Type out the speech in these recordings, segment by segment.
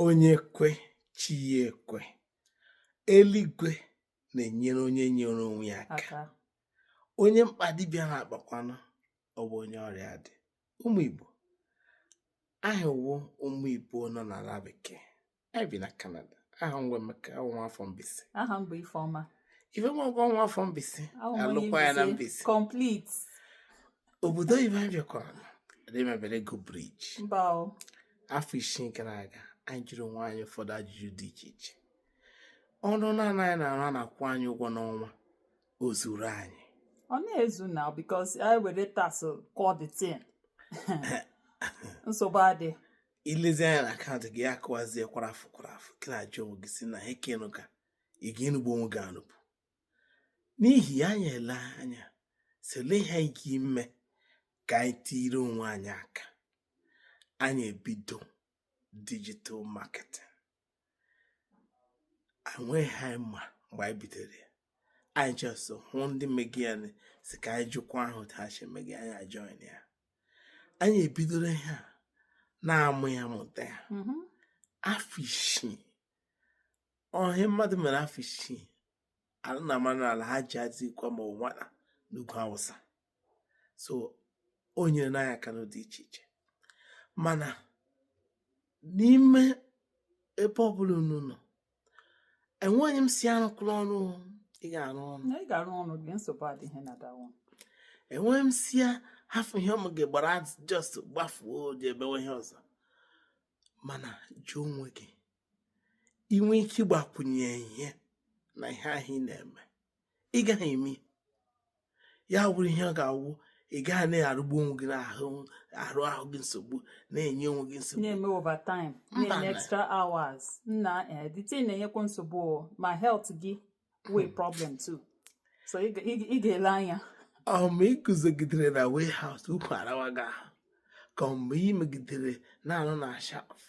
onye kwe chi ya ekwe eluigwe na-enyere onye nyere onwe ya aka onye mkpa dibịa na-akpakwanụ ọ bụ onye ọrịa dị ụmụ Igbo anyị wụ ụmụ Igbo nọ n'ala bekee anyị bi na Canada aha m wụ Emeka awụ m nwa afọ Mbaise aha m bụ Ifeọma Ifeọma ọgụ ọ nwa afọ Mbaise a lụkwa ya na Mbaise obodo oyibo anyị bịakwara na ndị mebere ego briji mba o afọ isii gara aga anyị jụrụ onwe anyị ụfọdụ ajụjụ dị iche iche ọrụ naanị anyị na-arụ a na-akwụ anyị ụgwọ n'ọnwa o zuru anyị ọ na-ezu na because anyị were tax kụọ the thing nsogbu adị i lezie anya na akaụntụ gị akụwazie kwara afọ kwara afọ gị na-ajụ onwe gị sị na ekenụ ka ị ga-arụgbu onwe gị arụgbu n'ihi ya anyị elee anya sị olee ihe anyị ga ime ka anyị tiiri onwe anyị aka anyị ebido digital marketing enweghị ihe anyị ma mgbe anyị bidoro ya anyị just hụ ndị megi ya sị ka anyị jụkwaa otu ha si megi anyị ajoin ya anyị ebidoro ihe a na-amụ ya mụta ya mm-hmm. afọ isii ọ ihe mmadụ mere afọ isii ala na mmanụ ala ha ji adị ikwa ma ọ nwata n'ugwu awụsa so o nyerela anyị aka n'ụdị iche iche mana n'ime ebe ọbụla unu nọ enweghị m sị arụkwala ọrụ ị ga-arụ ọrụ na ị ga-arụ ọrụ gị nsogbu adịghị na dawa enweghị m sị ya hafụ ihe ị megi gbara ọsọ gbafuo je mewe ihe ọzọ mana jụọ onwe gị i nwe ike ịgbakwunye ihe na ihe ahụ ị na-eme ị gaghị eme ya wụrụ ihe ọ ga-awụ ị gaghị na-arụgbu onwe gị na-arụ ahụ gị nsogbu na-enye onwe gị nsogbu na-eme overtime na-eme extra hours nna eh, the thing na-enyekwa nsogbu ma health gị nwee hmm. problem too so ị ga-ele anya ma ị guzogidere na warehouse ụkwụ arawa gị ahụ ka mgbe ị megidere na-arụ na shelf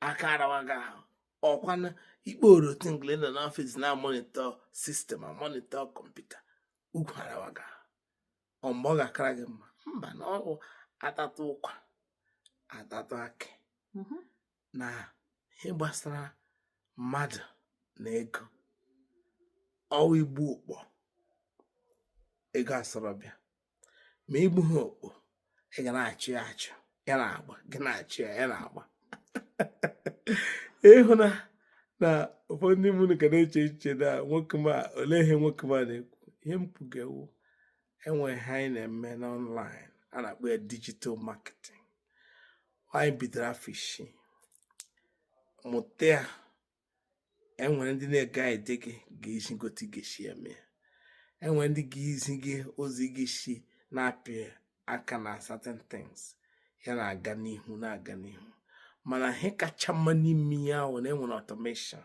aka arawa gị ahụ ọ kwanụ ikpe orotingle nọ n'ọfịs na-amonitor system amonitor computer ukwu arawa gị ahụ mgbe ọ ga-akara gị mma mba na ọ wụ a tatụ ụkwa a tatụ akị mm-hmm. na ihe gbasara mmadụ na ego ọ wụ i gbuo okpo ego asọrọ bịa ma i gbughị okpo ị ga na-achụ ya achụ ya na-agba gị na-achụ ya ya na-agba ị hụ na na ụfọdụ ndị mmadụ ka na-eche echiche na nwoke m a olee ihe nwoke m a na-ekwu ihe m kwuga wụ e nwere ihe anyị na-eme n'online a na-akpọ ya digital marketing anyị bidoro afọ isii mụta ya enwere ndị na-guide gị ga-ezi gị otu ị ga-esi eme ya enwere ndị ga-ezi gị ozi gị si na-apị aka na certain things ya na-aga n'ihu na-aga n'ihu mana ihe kacha mma n'ime ya wụ na enwere automation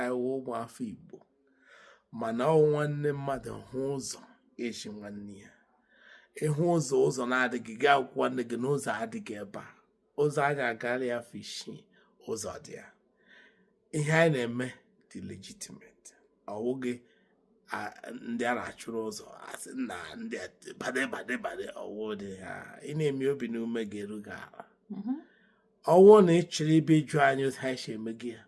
anyị wụ ụmụafọ Igbo mana ọwụ nwanne mmadụ hụ ụzọ ezi nwanne ya ị hụ ụzọ ụzọ na-adịghị gị agwa nwanne gị na ụzọ adịghị ebe a ụzọ anyị agala ya afọ isii ụzọ dị ya ihe anyị na-eme dị legitimate ọwụghị ndị a na-achụrụ ụzọ asị na ndị bad bad bad ọwụ ndị a ị na-eme obi na ume ga-eru gị ala mm-hmm. ọwụ na ị chọrọ ịbịa ịjụ anyị otu anyị si eme gị ya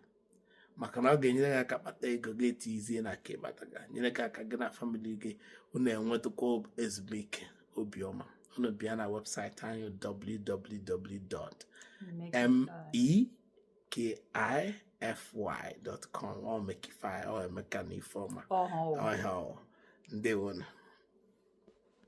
maka na ọ ga-enyere gị aka kpata ego gị etizie na nke ị kpataga nyere gị aka gị na famili gị unu enwetakwa ezumike obiọma unu bịa na webụsaịtị anyị www.mekify.com ọ mekify ọ Emeka na Ifeọma Ọhịa ndewonu